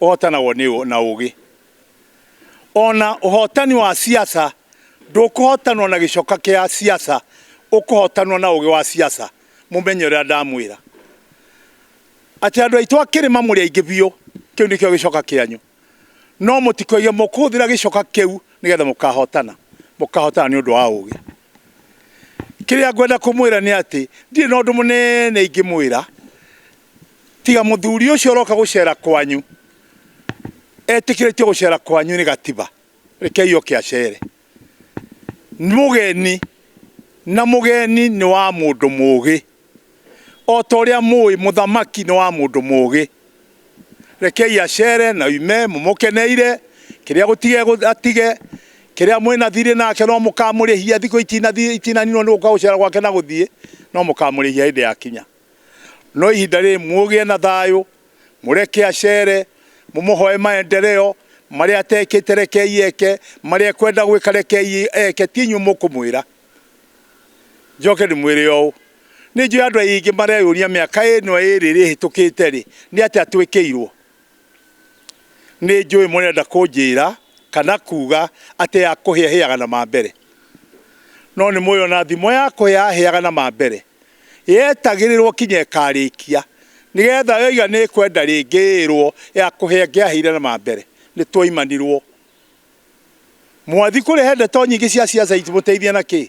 ũhootanagwo nĩ na ũũgĩ. O na ũhootani wa ciaca ndũkũhootanwo na gĩcoka kĩa ciaca, ũkũhootanwo na ũũgĩ wa ciaca. Mũmenye ũrĩa ndamwĩra, atĩ andũ aitũ a kĩrĩma mũrĩ aingĩ biũ, kĩu nĩkĩo gĩcoka kĩanyu. No mũtikoige mũkũhũthĩra gĩcoka kĩu nĩgetha mũkahootana, mũkahootana nĩ ũndũ wa ũũgĩ. Kĩrĩa ngwenda kũmwĩra nĩ atĩ, ndirĩ na ũndũ mũnene ingĩmwĩra. tiga muthuri ucio uroka gucera kwanyu etikiritie gucera kwanyu ni gatiba rekei oke acere mugeni na mugeni ni wa mundu mugi o ta uria mui muthamaki ni wa mundu mugi rekei acere na ume mumukeneire kiria gutige atige kiria mwina thiri nake no mukamurihia thiku itinaninwo ni guka gucera gwake na guthie no mukamurihia hindi ya kinya no ihinda rĩrĩ mũgĩe na thayũ, mũreke acere, mũmũhoe maendeleo, marĩa atekĩte rekei eke, marĩa ekwenda gwĩka rekei eke, ti inyuĩ mũkũmwĩra. Njoke ndĩmwĩre ũũ, nĩ njũĩ andũ aingĩ mareyũria mĩaka ĩno ĩrĩ ĩhĩtũkĩte rĩ, nĩ atĩa twĩkĩirwo? Nĩ njũĩ mũrenda kũnjĩra kana kuuga atĩ ya kũhĩa ĩhĩaga na ma mbere. No nĩ mũĩ o na thimo ya kũhĩa ĩhĩaga na ma mbere, yetagĩrĩrwo kinya ĩkarĩkia, nĩ getha yoiga nĩ ĩkwenda rĩngĩ ĩrwo ya kũhĩa ĩngĩahĩire na ma mbere. Nĩ twaimanirwo. Mwathiĩ kũrĩa he ndeto nyingĩ cia siasa ingĩmũteithia na kĩĩ?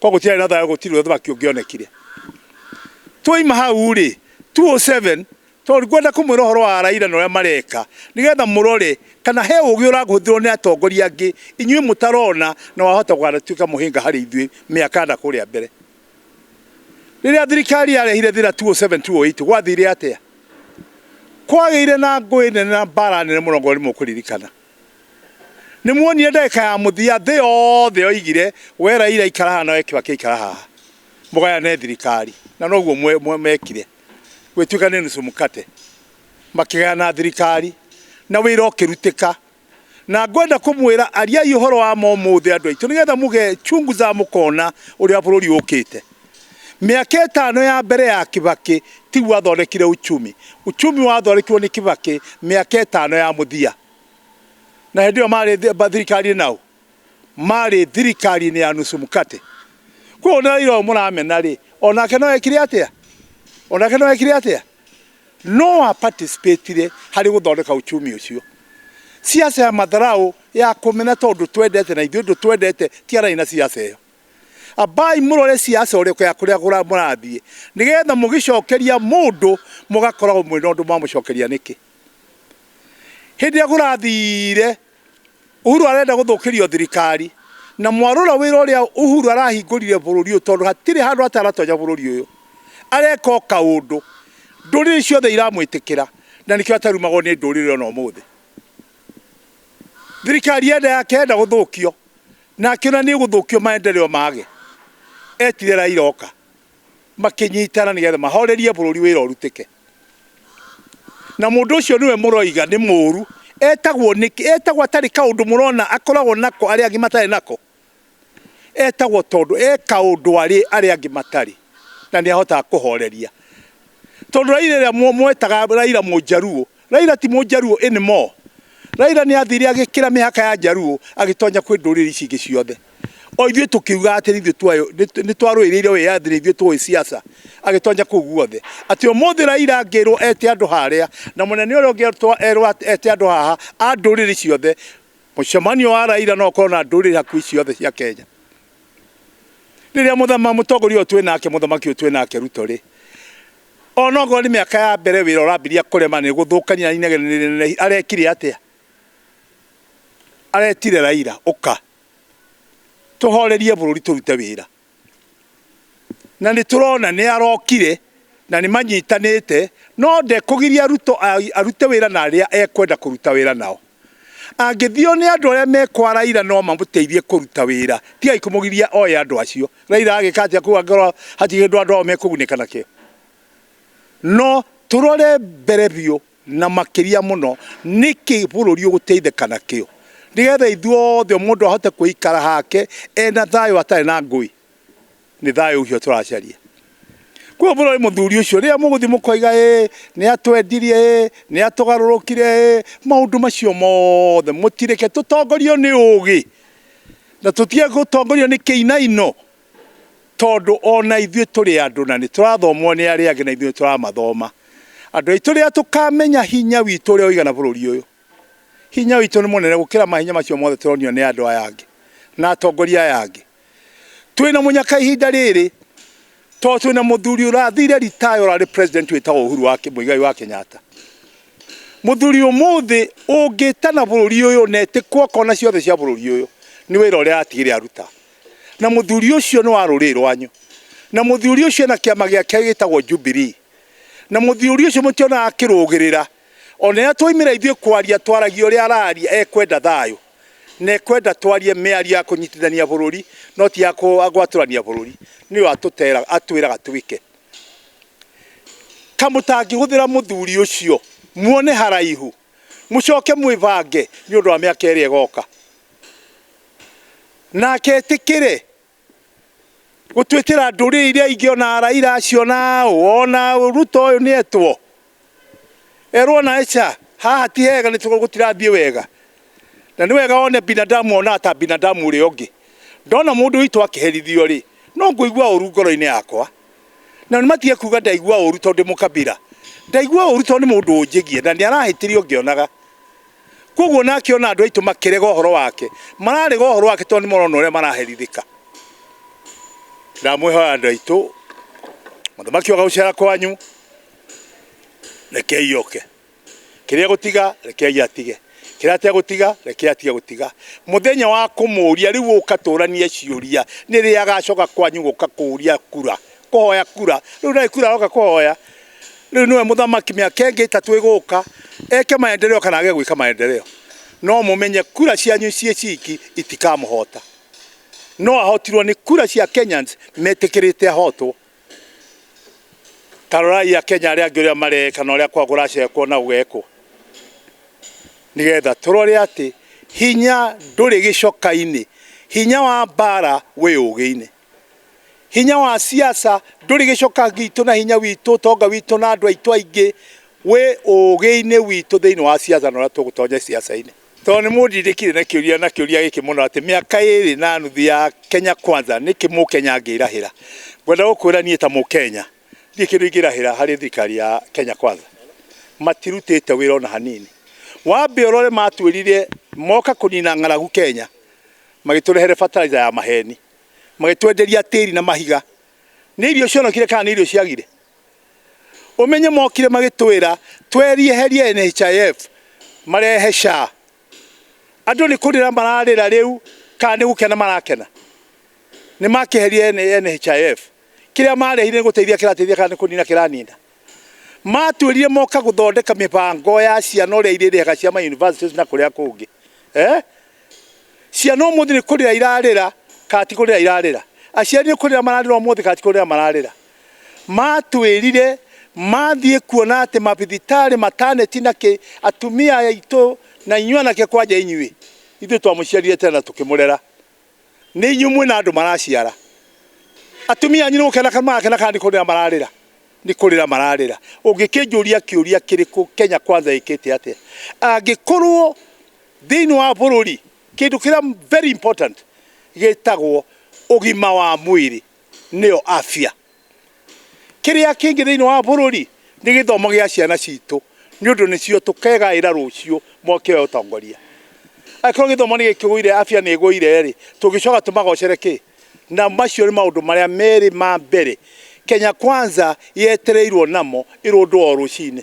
kwa gũtiarĩ na thayũ gũtirĩ ũthamaki ũngĩonekire twaima hau rĩ 207 tondũ ngwenda kũmwĩra ũhoro wa Raila na ũrĩa mareka nĩgetha mũrore kana he ũgĩ ũragũthirwo nĩ atongoria angĩ inyuĩ mũtarona na wahota gũgatuĩka mũhĩnga harĩ ithuĩ mĩaka na kũrĩa mbere rĩrĩa thirikari yarehire thĩna 207 208 gwathire atĩa kwagĩire na ngũĩ nene na mbara nene mũno ngorwo nĩ mũkũririkana Nĩ muonire ndagĩka ya mũthia thĩ yothe yoigire we Raila ikara haha na we Kibaki ikara haha mũgayane thirikari, na noguo mwe- mwe- mekire gwĩtuĩka nĩ nusu mkate makĩgayana thirikari na wĩra ũkĩrutĩka. Na ngwenda kũmwĩra ariai ũhoro wa ma ũmũthĩ andũ aitũ, nĩgetha mũgechunguza mũkona ũrĩa bũrũri ũkĩte. Mĩaka ĩtano ya mbere ya Kibaki tiguo athondekire uchumi. Uchumi wathondekirwo nĩ Kibaki mĩaka ĩtano ya mũthia. Na hĩndĩ ĩyo marĩ thirikari nao marĩ thirikari-inĩ ya nusu mkate. Koguo nĩ Raila ũyũ mũramena rĩ, onake no ekire atĩa? Onake no ekire atĩa? No a participatire harĩ gũthondeka uchumi ũcio. Siasa ya matharau ya kũmena tondũ twendete na ithuĩ ndũ twendete tiganai na siasa ĩyo. Ambaai mũrore ciaca ũrĩko ya kũrĩa mũrathiĩ, nĩgeetha mũgĩcookeria mũndũ mũgakoragwo mwĩ na ũndũ mwamũcookeria nĩkĩ. Hĩndĩ ĩrĩa kũrathiire Uhuru arenda gũthũkĩrio thirikari, na mwarora wĩra ũrĩa Uhuru arahingũrire bũrũri ũyũ tondũ hatirĩ handũ ataratonya bũrũri ũyũ, areeka o kaũndũ, ndũrĩrĩ ciothe iramwĩtĩkĩra, na nĩkĩo atarumagwo nĩ ndũrĩrĩ o na ũmũthĩ. Thirikari yenda yake yenda gũthũkio, Na akĩona nĩ gũthũkio maendeleo mage, etire Raila oka makĩnyitana nĩ getha mahorerie bũrũri wĩra ũrutĩke. Na mũndũ ũcio nĩwe mũroiga nĩ mũũru, etagwo nĩkĩ? Etagwo atarĩ kaũndũ mũrona akoragwo nako arĩa angĩ matarĩ nako? Etagwo tondũ e kaũndũ arĩ arĩa angĩ matarĩ na nĩ ahotaga kũhoreria. Tondũ Raila ĩrĩa mwetaga Raila Mũjaluo Raila ti mũjaruo any more. Raila nĩ athire agĩkĩra mĩhaka ya njaruo agĩtonya kwĩ ndũrĩrĩ ici ingĩ ciothe. O ithuĩ tũkiuga atĩ ithuĩ twayo nĩ twarũĩrĩire wĩyathi nĩ ithuĩ tũĩ siasa agĩtonya kũu guothe. Atĩ ũmũthĩ Raila angĩrwo ete andũ harĩa na mũnene ũrĩa ũngĩ erwo ete andũ haha a ndũrĩrĩ ciothe mũcemanio wa Raila no ũkorwo na ndũrĩrĩ hakuhĩ ciothe cia Kenya. Rĩrĩa mũthama mũtongoria ũyũ twĩ nake mũthamaki ũyũ twĩ nake Ruto rĩ Onokorwo nĩ mĩaka ya mbere wĩra ũrambiria kũrema nĩ gũthũkania na inegene nĩ rĩnenehi arekire atĩa? Aretire Raila ũka tũhorerie bũrũri tũrute wĩra na nĩ tũrona nĩ arokire na nĩ manyitanĩte no ndekũgiria Ruto arute wĩra na arĩa ekwenda kũruta wĩra nao. Angĩthio nĩ andũ arĩa me kwa Raila no mamũteithie kũruta wĩra. Tigai kũmũgiria oe andũ acio. Raila agĩka atĩa kũu angĩkorwo hatirĩ kĩndũ andũ ao mekũgunĩka nakĩo? No tũrore mbere biũ na makĩria mũno nĩkĩ bũrũri ũgũteithĩka nakĩo. Nĩgetha ithuothe mũndũ ahote kũikara hake ena thayũ atarĩ na ngũĩ. nĩ thayũ ũcio tũracaria kuo mũrore mũthuri ũcio rĩrĩa mũgũthiĩ mũkoiga ĩ nĩ atwendirie ĩ nĩ atũgarũrũkire ĩ maũndũ macio mothe mũtireke tũtongorio nĩ ũgĩ na tũtige gũtongorio nĩ kĩinaino tondũ ona ithuĩ tũrĩ andũ na nĩ tũrathomwo nĩ arĩa angĩ na ithuĩ tũramathoma andũ aitũ rĩrĩa tũkamenya hinya witũ ũrĩa ũigana bũrũri ũyũ hinya witũ nĩ mũnene gũkĩra mahinya macio mothe tũronio nĩ andũ aya angĩ na atongoria aya angĩ twina munyaka ihinda riri to twina muthuri urathire retire urari president witagwo Uhuru wa Muigai wa Kenyatta muthuri umuthi ungitana bururi uyu na itikwo kona ciothe cia bururi uyu ni wira uria atigire aruta na muthuri ucio ni wa ruri rwanyu na muthuri ucio na kiama giake gitagwo Jubilee na muthuri ucio mutiona akirugirira O rĩrĩa twoimĩra ithuĩ kwaria, twaragia ũrĩa araria, ekwenda thayũ, na ekwenda twarie mĩario ya kũnyitithania bũrũri, no ti ya gwatũrania bũrũri, nĩyo atũteraga, atwĩraga twĩke. Ka mũtangĩhũthĩra mũthuri ũcio, muone haraihu, mũcoke mwĩbange nĩ ũndũ wa mĩaka ĩrĩa ĩgoka, nake etĩkĩre gũtuĩkĩra ndũrĩrĩ iria ingĩ ona Raila aciona ona Ruto ũyũ nĩ etwo erwo na eca haha ti hega nĩ gũtirathiĩ wega na nĩ wega one binadamu onaga ta binadamu ũrĩa ũngĩ ndona mũndũ witũ akĩherithio rĩ no ngũigua ũru ngoro-inĩ yakwa na matige kuga ndaigua ũru tondũ ndĩ mũkabira ndaigua ũru tondũ nĩ mũndũ ũnjĩgie na nĩ arahĩtĩria ũngĩonaga. Koguo nake ona andũ aitũ makĩrega ũhoro wake, mararega ũhoro wake tondũ nĩ marona ũrĩa maraherithĩka. Ndamwĩhoya andũ aitũ, mũthamaki oka gũcera kwanyu, rekei oke. Kĩrĩa gũtiga, rekei atige. Kĩrĩa ategũtiga, rekei atige gũtiga. Mũthenya wa kũmũria, rĩu ũka tũranie ciũria, nĩ rĩ agacoka kwanyu gũka kũria kura. kũhoya kura rĩu ndarĩ kura aroka kũhoya rĩu nĩwe mũthamaki mĩaka ĩngĩ ĩtatũ ĩgũka eke maendeleo kana age gwĩka maendeleo no mũmenye kura cianyu ciĩ ciki itikamũhota no ahotirwo nĩ kura cia Kenyans metĩkĩrĩte ahotwo tarorai akenya arĩa angĩ ũrĩa mareka na ũrĩa kwa kũracekwo na gũgekwo nĩgetha tũrore atĩ hinya ndũrĩ gĩcoka-inĩ hinya wa mbara wĩ ũgĩ-inĩ Hinya wa siasa ndũrĩ gĩcoka gitũ na hinya witũ, ũtonga witũ na andũ aitũ aingĩ wĩ ũgĩ-inĩ witũ thĩinĩ wa siasa na ũrĩa tũgũtonya siasa-inĩ. Tondũ nĩ mũndindĩkire na kĩũria na kĩũria gĩkĩ mũno atĩ mĩaka ĩrĩ na nuthu ya Kenya Kwanza nĩkĩ Mũkenya angĩrahĩra, ngwenda gũkwĩra niĩ ta Mũkenya ndirĩ kĩndũ ingĩrahĩra harĩ thirikari ya Kenya Kwanza. Matirutĩte wĩra ona hanini. Wambe ũrore matwĩrire moka kũnina ng'aragu Kenya magĩtũrehere fertilizer ya maheni. magĩtwenderia tĩri na mahiga nĩ irio cionokire kana nĩ irio ciagire umenye mokire magĩtwĩra twerieherie NHIF marehe SHA andũ nĩ kũrĩra mararĩra rĩu kana nĩ gũkena marakena nĩ makĩherie NHIF kĩrĩa marehire nĩ gũteithia kĩrateithia kana nĩ kũnina kĩranina matwĩrire moka gũthondeka mĩbango ya ciana ũrĩa irĩrĩhaga cia ma universities na kũrĩa kũngĩ eh Ciana ũmũthĩ nĩ kũrĩra irarĩra kana ti kũrĩra irarĩra? Aciari nĩ kũrĩra mararĩra ũmũthĩ kana ti kũrĩra mararĩra? Matwĩrire mathiĩ kuona atĩ mabithitarĩ, mataneti na kĩ, atumia aitũ na inyuĩ anake kwanja inyuĩ, ithuĩ twamũciarire tene na tũkĩmũrera. Nĩ inyuĩ mwĩ na andũ maraciara. Atumia anyu nĩ gũkena kana marakena kana nĩ kũrĩra mararĩra? Nĩ kũrĩra mararĩra. Ũngĩkĩnjũria kĩũria kĩrĩkũ, Kenya Kwanza ĩkĩte atĩa? Angĩkorwo Thĩinĩ wa bũrũri kĩndũ kĩrĩa very important gĩtagwo ũgima wa mwĩrĩ nĩyo afya. Kĩrĩa kĩngĩ thĩinĩ wa bũrũri nĩ gĩthomo gĩa ciana citũ nĩ ũndũ nĩcio tũkegaĩra rũciũ moke oe ũtongoria. Angĩkorwo gĩthomo nĩ gĩkĩgũire afya nĩ ĩgũire rĩ, tũngĩcoka tũmagocere kĩ? Na macio nĩ maũndũ marĩa merĩ ma mbere Kenya Kwanza yetereirwo namo ĩrũndwo o rũcinĩ.